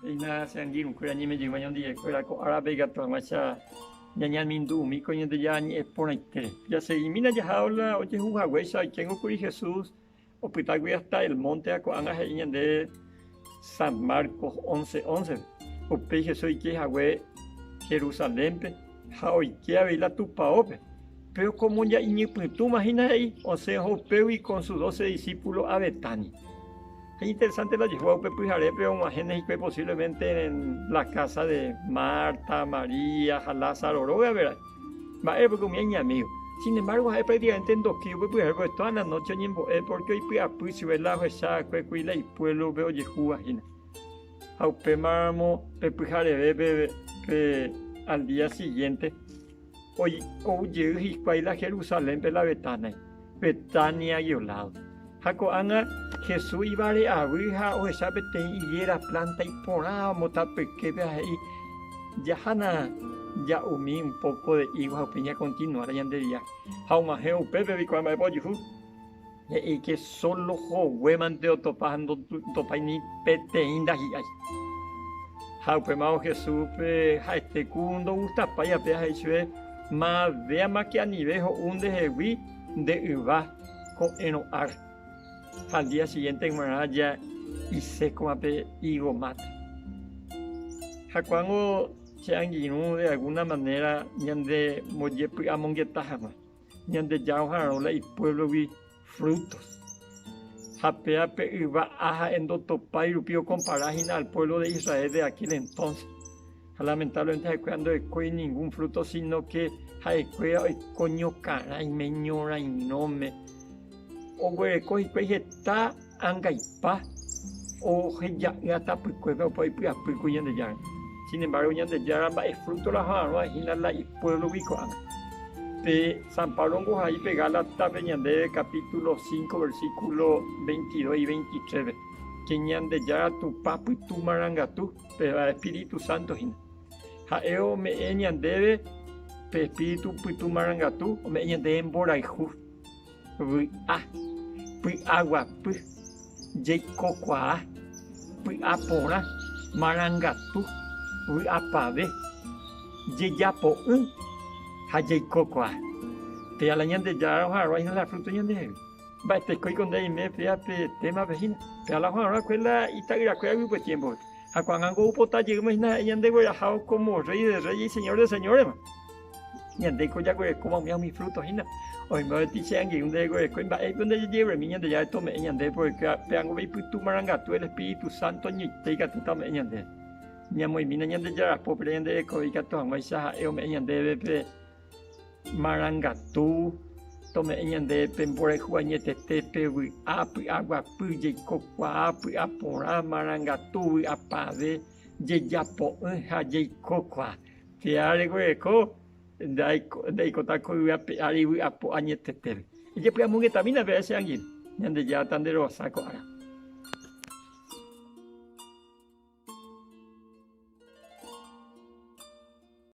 Eina che angirũkuéra ñemejýva ñandivekuéra ko árape ikatu hag̃uáicha ñañemindu'umíkuri Ñandejára ñe'ẽ porãite. Jaseguimína jaha ola ojehu haguéicha oikéngo kuri Jesús opytágui hásta el mónte ha ko'ág̃a he'i ñande San Marcos 11, 11. Upéi Jesús oike hague Jerusalénpe ha oike avei la tupaópe. Péro como ya iñypytũma hína he'i, osẽ oho upégui con sus doce discípulos a Betania. Qué interesante la Jehová upe pyharépe og̃uahẽne hikuái posiblemente en la casa de Marta, María ha Lázaro róga, ¿verdad? Mba'e piko umi iñamígo. Sin embargo, ha'e prácticamente ndoki upe pyhare porque toda la noche oñembo'e porque oipy'apy chupe la ohecha va'ekue kuri la ipuélope ojehúva hína. Ha upémaramo pe pyhareve pe, pe al día siguiente ou jey hikuái la Jerusalénpe la Betania. Betania Yolado. Ha ko'ág̃a Jesús ivare'avy ha ohecha peteĩ higuéra plánta iporãva motapyképe ha he'i, Jahana ja'umi un póko de ígo ha upéi ñakontinuárõ ñande via. Ha og̃uahẽ upépe viko amba'épa ojuhu. He'i ke sólo hoguémante otopa ha ndotopái ni peteĩ ndahi'ái. Ha upémarõ Jesúspe ha'ete ku ndogustapái ape ha he'i chupe, Ma'avéama che anive ho'u ndehegui nde yva ko'ẽrõ ar. Ha al día siguiente g̃uarã ja isékoma pe higo máta. Jakuáango che angirũ de alguna manera ñande mbojepy'amongeta hag̃ua, Ñandejára ohararõ la ipuévlogui frutos. Ha pe ape yva A ha'e ndotopái rupi okompara hína al pueblo de Israel de aquel entonces. Ha lamentablemente ha'ekuéra ndo'ekói ningún fruto sino que ha'ekuéra oiko ñokarãime, ñorãirõme. Oguereko hikuái heta Angaipa oheja'ỹa tapykuépe opa oipy'apýkuri Ñandejára. Sin embargo, Ñandejára mba'e fruto la ho'arõ'ã hína la ipuévlogui ko'ág̃a. Pe San Pablo ombohai pe Gálataspe ñandéve capítulo cinco, versículo veintidós y veintitréve, que Ñandejára Tupã pytu marangatu, péva espíritu santo hína. Ha'e ome'ẽ ñandéve pe espíritu pytu marangatu, ome'ẽ ñandéve mborayhu Vy'a, py'aguapy, jeikokuaa, py'aporã, marangatu, vy'apave, jejapo'ỹ ha jeikokuaa. Péa la Ñandejára oharoa hína la fruto ñandehegui. Mba'etekoiko nde aime péa pe témape hína. Péa la oharoa kuéra la ita'yrakuéragui upe tiémpope. Ha ko'ág̃a nko oipota jeýma hína ha'e Ñandeguerahávo kómo Rréi de rréi, Señor de señóresva. Ñandéiko jaguerekóma umi ha umi fruto hína. Oĩmba avei che angirũ ndereguerekói mba'éipa ndejejevy'aimi Ñandejára tome'ẽ ñandéve porãke peango ipytu marangatu el Espíritu Santo añoite ikatúta ome'ẽ ñandéve. Ñamoĩmína Ñandejára pópe ñande rekove ikatu hag̃uáicha ha'e ome'ẽ ñandéve pe marangatu, tome'ẽ ñandéve pe mborayhu añetete, pe vy'a, py'aguapy, jeiko kuaa, py'a porã, marangatu, vy'apavẽ, jejapo'ỹ ha jeiko kuaa. Che ári guereko ndaikota ko yvy ape ári yvy apo añetetére. Ejepy'amongetamína pe ae che angirũ, Ñandejáta nde rohasa ko ára.